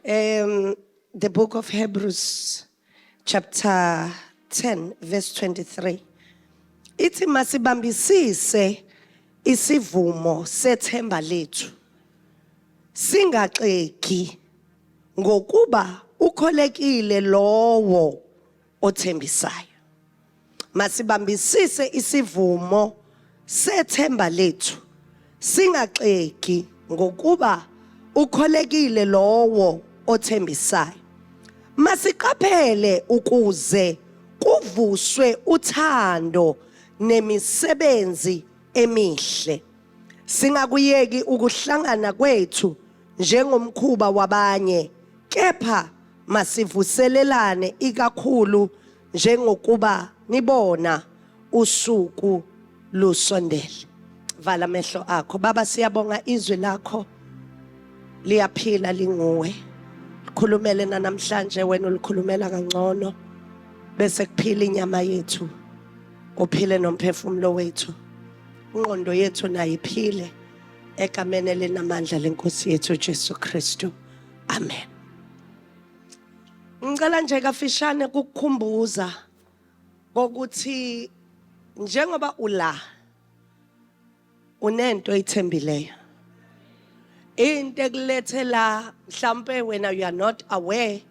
Um, the book of Hebrews, chapter 10, verse 23. Ithi masibambisise isivumo sethemba lethu. Singaxegi ngokuba ukholekile lowo othembisayo. Masibambisise isivumo sethemba lethu singaxegi ngokuba ukholekile lowo othembisayo. Masiqaphele ukuze kuvuswe uthando nemisebenzi emihle. Singakuyeki ukuhlangana kwethu njengomkhuba wabanye kepha masivuselelane ikakhulu njengokuba nibona usuku lusondele vala amehlo akho baba siyabonga izwi lakho liyaphila linguwe likhulumele nanamhlanje wena ulikhulumela kangcono bese kuphila inyama yethu kuphile nomphefumulo wethu ingqondo yethu nayo iphile egameni elinamandla lenkosi yethu Jesu Kristu amen ngicela nje kafishane kukukhumbuza kokuthi njengoba ula unento oyithembileyo into ekulethe la mhlambe wena you are not aware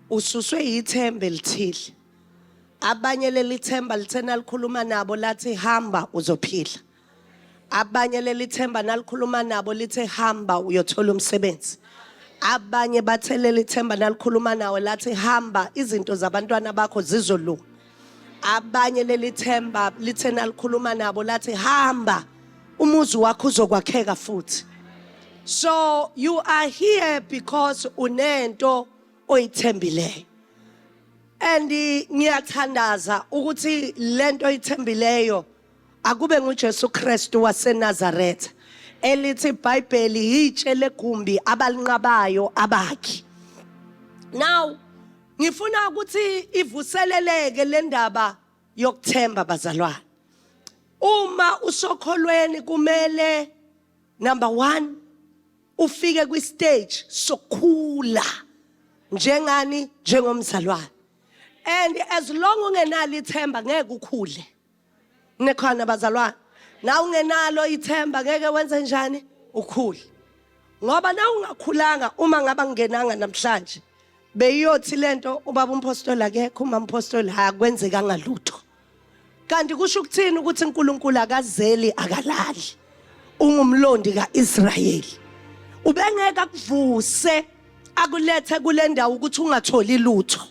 ususwe yithemba elithile abanye leli themba lithena likhuluma nabo lathi hamba uzophila abanye leli themba nalikhuluma nabo lithe hamba uyothola umsebenzi abanye bathe leli themba nalikhuluma nawe lathi hamba izinto zabantwana bakho zizolunga abanye leli themba lithe nalikhuluma nabo lathi hamba umuzi wakho uzokwakheka futhi so you are here because unento oyithembileyo and ngiyathandaza ukuthi lento oyithembileyo Akube nguJesu Kristu waseNazaretha elithi iBhayibheli yitshe legumbi abalinqabayo abakhi. Now ngifuna ukuthi ivuseleleke le ndaba yokuthemba bazalwane. Uma usokholweni kumele number 1 ufike kwi stage sokukhula njengani njengomzalwane. And as long ungenalo ithemba ngeke ukhule. nekhona bazalwane na ungenalo ithemba ngeke wenze njani ukhule ngoba na ungakhulanga uma ngaba ngenanga namhlanje beyiyothi lento ubaba umpostoli akekho uma umpostoli akwenzekanga lutho kanti kusho ukuthini ukuthi uNkulunkulu akazeli akalali ungumlondi kaIsrayeli ubengeke akuvuse akulethe kule ndawo ukuthi ungatholi lutho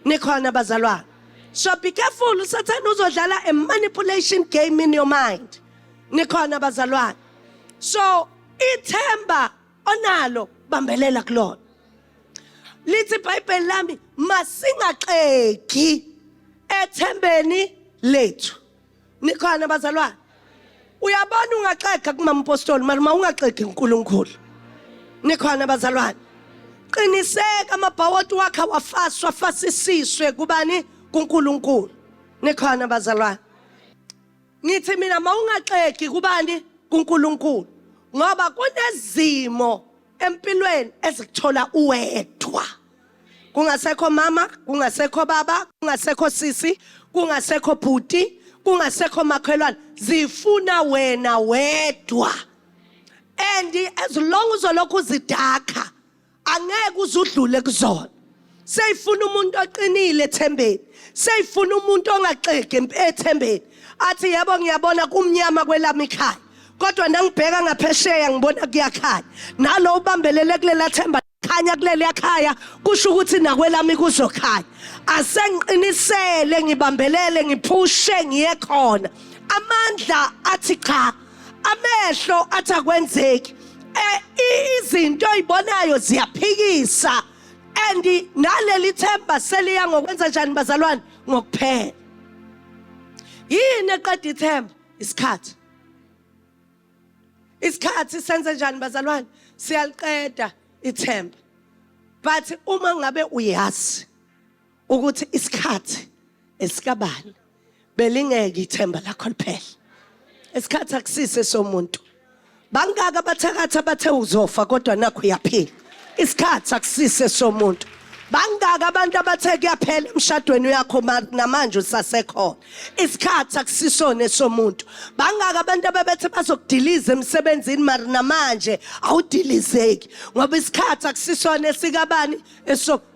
nikhona bazalwane so be careful usathane uzodlala a manipulation game in your mind nikhona bazalwane so ithemba onalo bambelela kulona lithi ibhayibheli lami masingaxegi ethembeni lethu nikhona bazalwane uyabona ungaxega kumama umpostoli mara uma ungaxegi unkulunkulu nikhona bazalwane qiniseka amabhawoti wakhe awafaswa afasisiswe kubani kunkulunkulu nikhona bazalwane ngithi mina mawungaxegi kubani kuNkulunkulu ngoba kunezimo empilweni ezikuthola uwedwa kungasekho mama kungasekho baba kungasekho sisi kungasekho bhuti kungasekho makhelwane zifuna wena wedwa and as long uzolokhu uzidakha angeke uzudlule kuzona seyifuna umuntu oqinile ethembeni seyifuna umuntu ongaxegi ethembeni athi yebo ngiyabona kumnyama kwelami ikhaya kodwa nangibheka ngaphesheya ngibona kuyakhanya nalo ubambelele kulela themba khanya kuleli yakhaya kusho ukuthi nakwelami kuzokhanya asengiqinisele ngibambelele ngiphushe ngiye khona amandla athi cha amehlo athi akwenzeki eh, izinto oyibonayo ziyaphikisa and naleli themba seliya ngokwenza njani bazalwane ngokuphela yini eqeda ithemba isikhathi isikhathi senze njani bazalwane siyaliqeda ithemba but uma ngabe uyazi ukuthi isikhathi esikabani belingeke ithemba lakho liphele isikhathi akusise somuntu bangaka abathakatha bathe uzofa kodwa nakho uyaphila isikhathi akusise somuntu bangaka abantu abathe kuyaphela emshadweni uyakho namanje usasekhona isikhathi akusisona somuntu bangaka abantu ababethe bazokudiliza emsebenzini mari namanje awudilizeki ngoba isikhathi akusisona esikabani esok